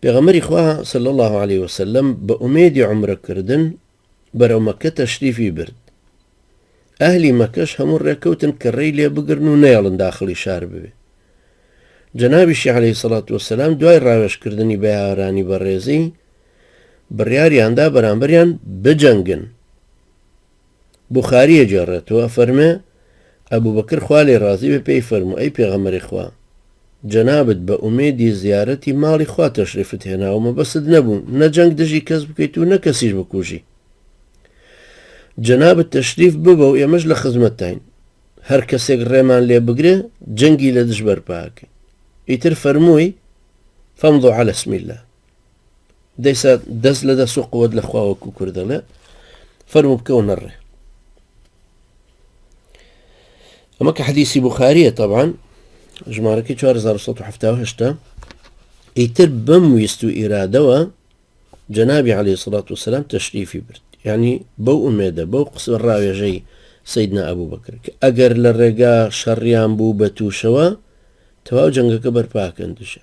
پێغەمبەری خوا، صلی اللە علیە وسلم، بە ئومێدی عومرە کردن بەرەو مەککە تەشریفی برد، ئەهلی مەککەش هەموو ڕێکەوتن کە ڕێی لێ بگرن و نەیەڵن داخڵی شار ببێ. جەنابیشی، علیە سەڵات وسلام، دوای ڕاوێژ کردنی بە یاوەرانی بەڕێزی، بڕیاریاندا بەرامبەریان بجەنگن. بوخاری ئەگێڕێتەوە ئەفەرمێ، ئەبوبەکر خوا لێی ڕازی بێ پێی فەرموو، ئەی پێغەمبەری خوا، جەنابت بە ئومێدی زیارەتی ماڵی خوا تەشریفت هێنا و مەبەستت نەبوو نە جەنگ دژی کەس بکەیت و نە کەسیش بکوژی، جەنابت تەشریف ببە و ئێمەش لە خزمەتتاین، هەر کەسێک ڕێمان لێ بگرێ جەنگی لە دژ بەرپا ئەکەین، ئیتر فەرمووی، فامضوا علی اسم اللە. دەیسا دەست لە دەست و قوت لە خواوەکو کورد دەڵێ فەرمو بکەەوە نەڕێ ئەمە کە حەدیسی بخاریە تەوان ژمارەکە 1970 ئیتر بەم ویست و ئیرادەوە جەنابی عليه سڵات وسلام تەشریفی برد ینی بەو ئومێدە بەو قسە ڕاوێژەی سیدنا ئەبوو بەکر ئەگەر لە ڕێگا شەڕیان بوو بە تووشەوە تەواو جەنگەکە بەرپاکەن دژە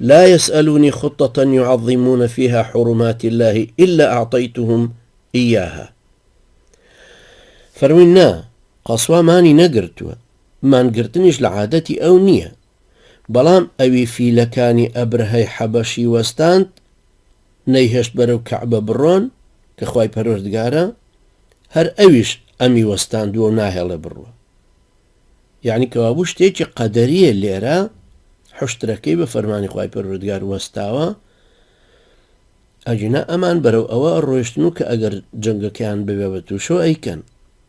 لا یسئلونی خطە یعظمون فیها حرمات اللە الا اعطیتهم ایاها فەرمووی نا قەسوا مانی نەگرتووە مانگرتنیش لە عادەتی ئەو نییە بەڵام ئەوی فیلەکانی ئەبرهەی حەبەشی وەستاند نەیهێشت بەرەو کەعبە بڕۆن کە خی پەروەردگارە هەر ئەویش ئەمی وەستاندووە و ناهێڵێ بڕوە یەعنی کەوابوو شتێکی قەدەریە لێرە حوشترەکەی بە فەرمانی خوای پەروەردگار وەستاوە ئەگینا ئەمان بەرەو ئەوە ڕۆشتن و کە ئەگەر جەنگەکەیان ببێ بە تووشەوە ئەیکەن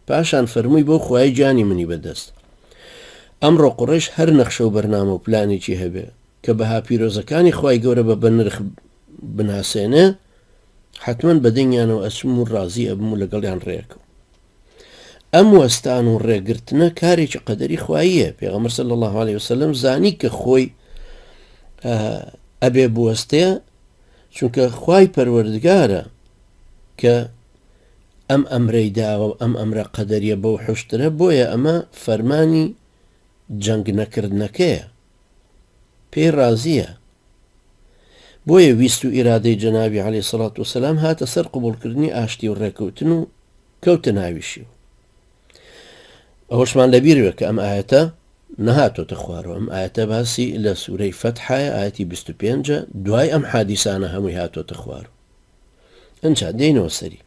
پاشان فەرمووی بۆ خوای گیانی منی بەدەست ئەمڕۆ قڕێش هەر نەخشە و بەرنامە و پلانێکی هەبێ کە بەها پیرۆزەکانی خوای گەورە بە بەنرخ بناسێنێ حتمما بەدەنگیانەوە ئەچم و ڕازی ئەبم و لەگەڵیان ڕێکەوە ئەم وەستان و ڕێگرتنە کارێکی قەدەری خواییە پێغەمبەر صلی الله عليه وسلم زانی کە خۆی ئەبێ بوەستێ چونکە خوای پەروەردگارە کە ئەم ئەمرەی داوە و ئەم ئەمرە قەدەریە بەو حشترە بۆیە ئەمە فەرمانی جەنگ نەکردنەکەیە پێی ڕازیە بۆیە ویست و ئیرادەی جەنابی عەلی سەڵات وسلام هاتە سەر قوبولکردنی ئاشتی و ڕێکەوتن و کەوتە ناویشی و ئەوەشمان لەبیروێ کە ئەم ئاەتە نەهاتۆتە خوارەوە ئەم ئاەتە باسی لە سوورەی فەتحایە ئاەتی 25 دوای ئەم حادیسانە هەمووی هاتۆتە خوار ئەجا دێنەوە سەری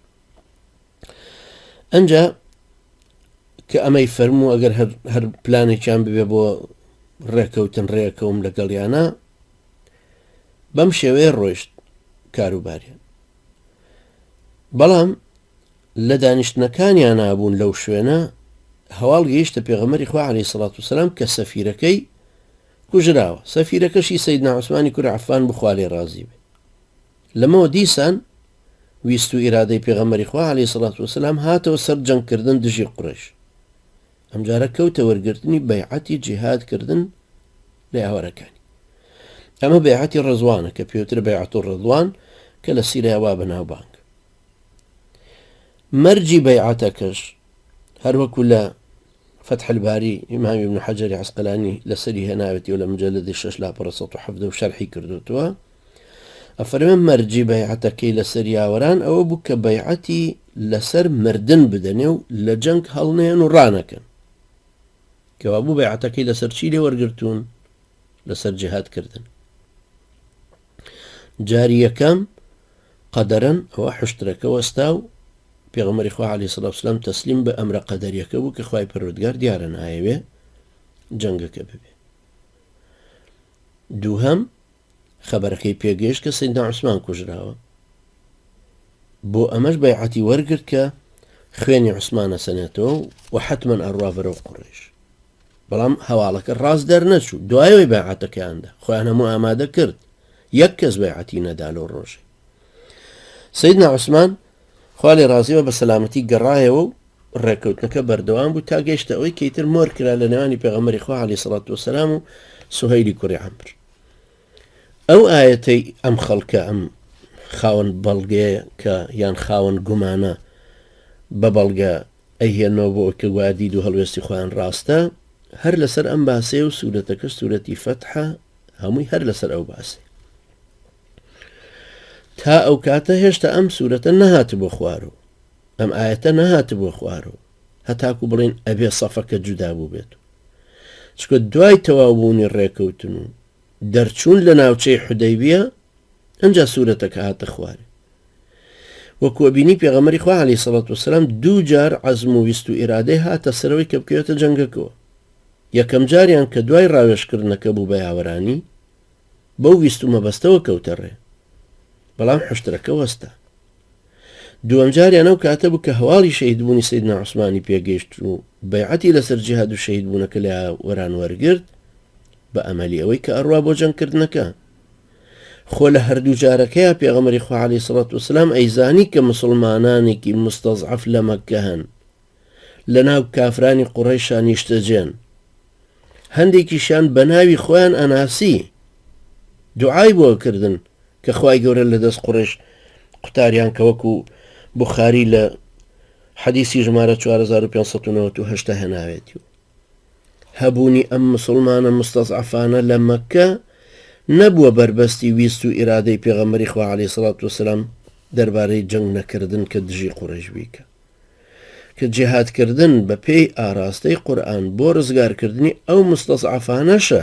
ئەجا کە ئەمەی فەرموو ئەگەر هەر پلانێکیان ببێ بۆ ڕێکەوتن ڕێکەوم لەگەڵیانە بەم شێوەیە ڕۆیشت کاروبارە بەڵام لە دانیشتنەکانیان نابوون لەو شوێنە هەواڵ گەیشتە پێغەمەری خوارێ سڵات و سلام کە سەفیرەکەی کوژراوە سەفیرەکەشی سید ناوسمانی کورعفان بخوالێ ڕازی بێ لەمەوە دیسان ویست و ئیرادەی پێغەمبەری خوا علیە سڵە وسلام هاتەوە سەر جەنگ کردن دژی قوڕەیش ئەمجارە کەوتە وەرگرتنی بەیعەتی جیهاد کردن لە یاوەرەکانی ئەمە بەیعەتی ڕزوانە کە پێوتر بەیعەت و ڕزوان کە لە سیریا وا بەناوبانگ مەرجی بەیعەتەکەش هەروەکو لە فەتح الباری، ئیمام ئیبن حەجەری عەسقەلانی لەسەری هێناوێتی و لە مجەلەدی شەش لاپەڕە سەد و حەڤدە و شەرحی کردووتوە، ئەفەرمێ مەرجی بەیعەتەکەی لەسەر یاوەران ئەوە بوو کە بەیعەتی لەسەر مردن بدەنێ و لە جەنگ هەڵنەیەن و ڕانەکەن، کەوابوو بەیعەتەکەی لەسەر چی لێ وەرگرتوون؟ لەسەر جیهاد کردن. جاری یەکەم، قەدەرەن ئەوە حوشترەکە وەستا و پێغەمبەری خوا علیە سڵاو وسلام تەسلیم بە ئەمرە قەدەریەکە بوو کە خوای پەروەردگار دیارە نایەوێ جەنگەکە ببێ دووهەم خەبەرەکەی پێگەیشت کە سیدنا عوسمان کوژراوە بۆ ئەمەش بەیعەتی وەرگرت کە خوێنی عوسمانە سەنێتەوە و حتمما ئەڕوا بەرەو قڕێش بەڵام هەواڵەکە ڕاست دەرنەچوو، دوایەوەی بەیعەتەکەیان دا، خۆیان هەموو ئامادە کرد، یەک کەس بەیعەتی نەدا لەو ڕۆژەی. سەیدنا عوسمان، خوا لێ ڕازی بێ، بە سەلامەتی گەڕایەوە و ڕێکەوتنەکە بەردەوام بوو تا گەیشتە ئەوەی کە ئیتر مۆر کرا لە نێوانی پێغەمبەری خوا عەلەیهی سڵات وەسەلام و سوهەیلی کوڕی عەمر. ئەو ئایەتەی ئەم خەڵکە ئەم خاوەن بەڵگەیە کە یان خاوەن گومانە بە بەڵگە ئەیهێننەوە بۆ ئەوەی کە گوایە دید و هەڵوێستی خۆیان ڕاستە، هەر لەسەر ئەم باسەیە و سورەتەکەش سورەتی فەتحە هەمووی هەر لەسەر ئەو باسەیە تا ئەو کاتە هێشتا ئەم سورەتە نەهات بۆ خوارەوە ئەم ئاەتە نەهات بۆ خوارەوە هەتاکو بڵێن ئەبێ سەفەکە جودا بوو بێت چکە دوای تەواوبوونی ڕێکەوتن و دەرچوون لە ناوچەی حودەیبیە ئەنجا سورەتەکە هاتە خوارێ وەک وەبینی پێغەمەری خوا علی سەڵات وسلام دوو جار عزم و ویست و ئیرادەی هاتە سەرەوەی کە بکەوێتە جەنگەکەوە یەکەم جاریان کە دوای ڕاوێشکردنەکە بوو بە یاوەرانی بەو ویست و مەبەستەوە کەوتە ڕێ بەڵام حشترەکە وەستا دووەم جاریان ئەو کاتە بوو کە هەواڵی شەیدبوونی سید ناعسمانی پێگەیشت و بەیعەتی لەسەر جیهاد و شەید بوونەکە لە وەران وەرگرت بە ئەمەلی ئەوەی کە ئەڕوا بۆ جەنگ کردنەکە خۆ لە هەردوو جارەکەیا پێغەمبەری خوا عەلەیهی سڵات وسلام ئەیزانی کە موسڵمانانێکی موستەزعەف لە مەککە هەن لە ناو کافرانی قوڕەیشا نیشتەجێن هەندێکیشیان بە ناوی خۆیان ئەناسی دوعای بۆ کردن کە خوای گەورە لە دەست قوڕێش قوتاریان کە وەکو بخاری لە حەدیسی ژمارە 4598 هێناوێتی و هەبوونی ئەم مسوڵمانە موستەزعەفانە لە مەککە نەبووە بەربەستی ویست و ئیرادەی پێغەمبەری خوا عەلەیهی سڵات وسلام دەربارەی جەنگ نەکردن کە دژی قوڕەیش بی کە کە جیهاد کردن بە پێی ئاراستەی قورئان بۆ ڕزگارکردنی ئەو موستەزعەفانەشە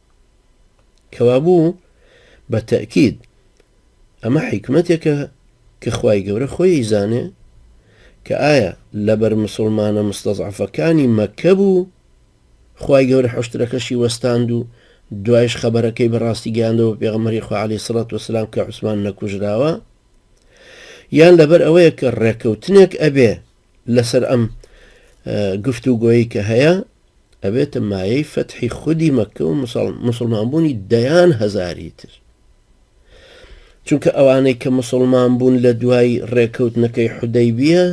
کەوابوو بە تەئکید ئەمە حیکمەتێکە کە خوای گەورە خۆی ئەیزانێ کە ئایا لەبەر مسوڵمانە مستەزعەفەکانی مەککە بوو خوای گەورە حوشترەکەشی وەستاند و دوایش خەبەرەکەی بە ڕاستی گەیاندەوە پێغەمەری خوا عەلەیهی سڵات وەسلام کە عوسمان نەکوژراوە یان لەبەر ئەوەیە کە ڕێکەوتنێک ئەبێ لەسەر ئەم گفتوگۆیەی کە هەیە ئەبێتە مایەی فەتحی خودی مەکە و مسلمان بوونی دەیان هەزاری تر چونکە ئەوانەی کە مسلمان بوون لە دوای ڕێکەوتنەکەی حدەی بیە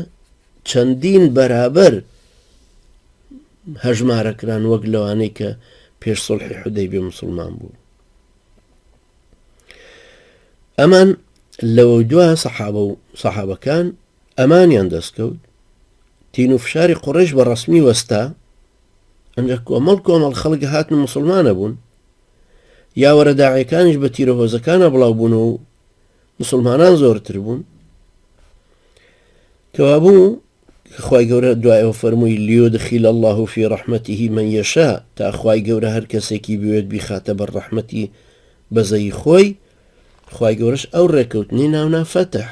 چەندین بەرابەر هەژمارەکران وەک لەوانەی کە پێش سڵحی حدەی بێ مسلمان بوو ئەمان لەوە دوا سەحابە و سەحابەکان ئەمانیان دەستکەوت تین و فشاری قوڕیش بە ڕەسمی وەستا ئەنجە کۆمەڵ کۆمەڵ خەڵک هاتن و مسلمانە بوون یاوەرە داعەکانیش بە تیرە هۆزەکانە بڵاو بوون و مسلمانان زۆرتر بوون کەوابوو خی گەورە دوایەوە فەرمووی لیۆ دخیل الله و فی ڕحمەتیهی من یەشا تا خی گەورە هەر کەسێکی بوێت بیخاتە بەر ڕەحمەتی بەزەی خۆی خی گەورەش ئەو ڕێککەوتنی ناونا فەتح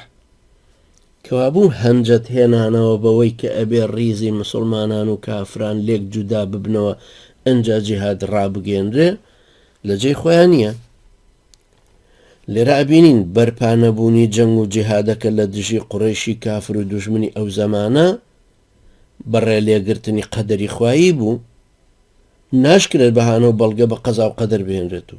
کەوابوو هەنجەت هێنانەوە بەوەی کە ئەبێ ڕیزی مسوڵمانان و کافران لێک جودا ببنەوە ئەنجا جیهاد ڕابگەینرێ لە جێی خۆیان نیە. لێرە ئەبینین بەرپا نەبوونی جەنگ و جیهادەکە لە دژی قوڕەیشی کافر و دوژمنی ئەو زەمانە بە ڕێ لێگرتنی قەدەری خوایی بوو ناشکرێت بەهانە و بەڵگە بە قەزا و قەدەر بهێنرێت و